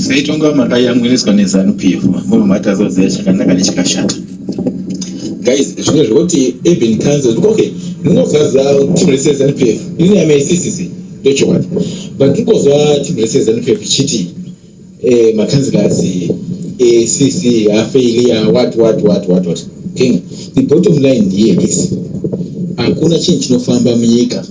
seitonga makayamwiriswa nezanu pf mabva matazoziva chakanaka nechakashata guys zvimwe zvekuti even council okay ndinozaza team rese zanu pf ini yamaisisisi ndochokwadi but ndikoziva team rese zanu pf chiti eh makanzilers eh sisi a failure what what what what what okay the bottom line here is hakuna chinhu chinofamba munyika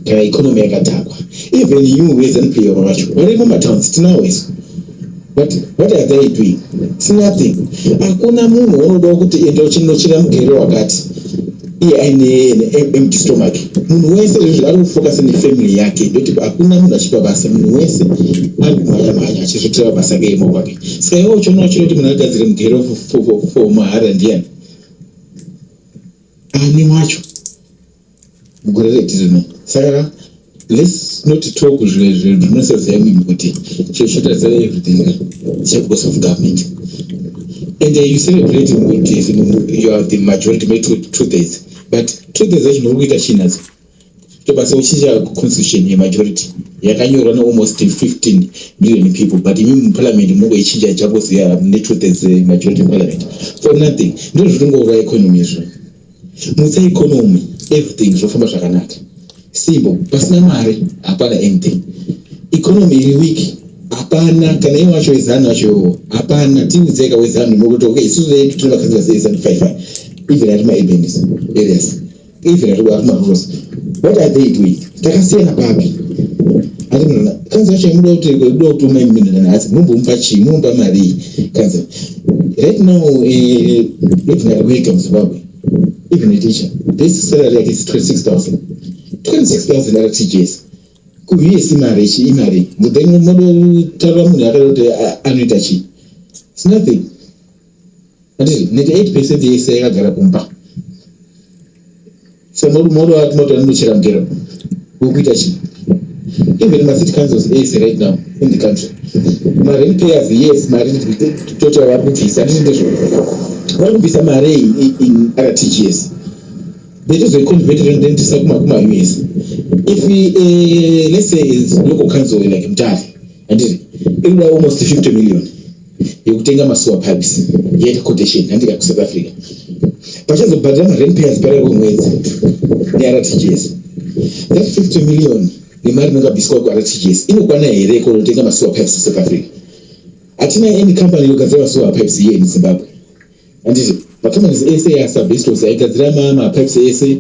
kana economy yakadhakwa even you as an player vacho vari mumatowns tinawo isu but what are they doing it's nothing hakuna munhu waunodawo kuti enda uchinochera mugere wakati iye aine empty stomach munhu wese izvozvo ari kufocus nefamily yake ndoti hakuna munhu achipa basa munhu wese ari kumhanya mhanya achizotira basa ke yemaoko ake saka iwe uchiona uchida kuti munhu agadzire mugero for mahara ndiyani ani wacho mugore reti rino saka Let's not talk zvimwe zvinhu zvinosaziva munhu kuti chezvitadza everything cha because of government and uh, you celebrate kuti you are the majority may two, two days but two days acho muri kuita chinadzo tobasa uchinja constitution yemajority yakanyorwa nealmost 15 million people but imi muparliament mungo ichinja chakoziva ne two days eh, majority parliament for nothing ndozvitongourwa economy izvoo Mutsa economy everything zvofamba zvakanaka. Simbo pasina mari hapana anything. Economy iri weak hapana kana iye wacho wezanu wacho iwowo hapana tiudzeka wezanu nokuti okay isusu vedu tine vakazira sei zanu five five even ari maurbanist areas even ari maruros what are they doing Takasiyana papi? Ari munhu kanzi yacho yamuda kuti kuda kuti umwe mimi ndana hasi munombomupa chii? Munombomupa mari kanzi right now eh even at week in Zimbabwe even a teacher this salary yake is 26000 26000 ara teachers kuviye si mari chi imari then modo taura munhu akada kuti anoita chii? It's nothing. Handiti 98 percent yese yakagara kumba. So moda wati moto anochera mugero. Ukuita chi? Even ma city councils ese right now in the country. Ma rent payers yes mari total vari kubvisa handiti ndizvo. Vari kubvisa mari in RTGS. Betizoiconvert rentisa kuma kuma US. If we, uh, let's say it's local council like Mtali handiti inoda almost 50 million. yekutenga masewer pipes yaita quotation handika kusouth africa pachazobhadhira marent payers parere kwemwedzi nertgs that 50 million nemari inongabviswa kurtgs inokwana here kunotenga masewer pipes esouth africa hatina any company inogadzira masewer pipes iye in zimbabwe handiti macompanies ese asabestos aigadzira mapipes ese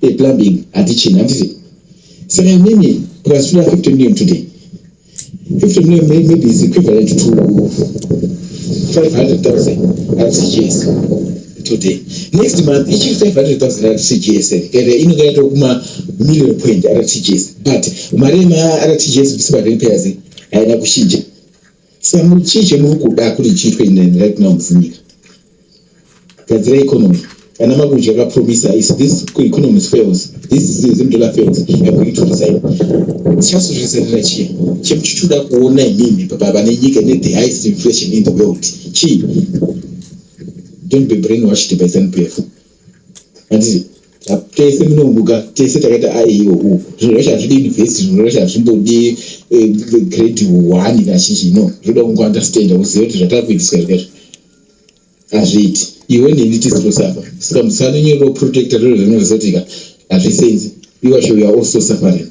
eplumbing hatichina handiti saka imimi plus 250 million today 50 million maybe is equivalent to 500,000 RCGS today. Next month, each 500,000 RCGS, ere inogaya to kuma million point RCGS. But, mari ma RCGS visiba rent payers, aina kushinja. Samu chiche mukuda kuri chitwe in right now mfunika. gadzira economy ana makunji akapromisa is this economy fails this zim dollar fails i'm going to resign chasozvizarira chiya chekuchichoda kuona imimi pavane nyika ine the highest inflation in the world chii don't be brain washed by zanpf handizi tese munomuka tese takaita aeo zvinhu zvacho hazvidi university zvinhu zvacho hazvimbodi eh, grade one kazhinji no zvoda kungounderstanda uzive kuti zvatava kuitiswa zvikaizvo hazviiti iwe neni tisi tose apa saka musanonyora uprotecta zviro zvinhu zvizotika hazvisenzi iwasho we are also suffering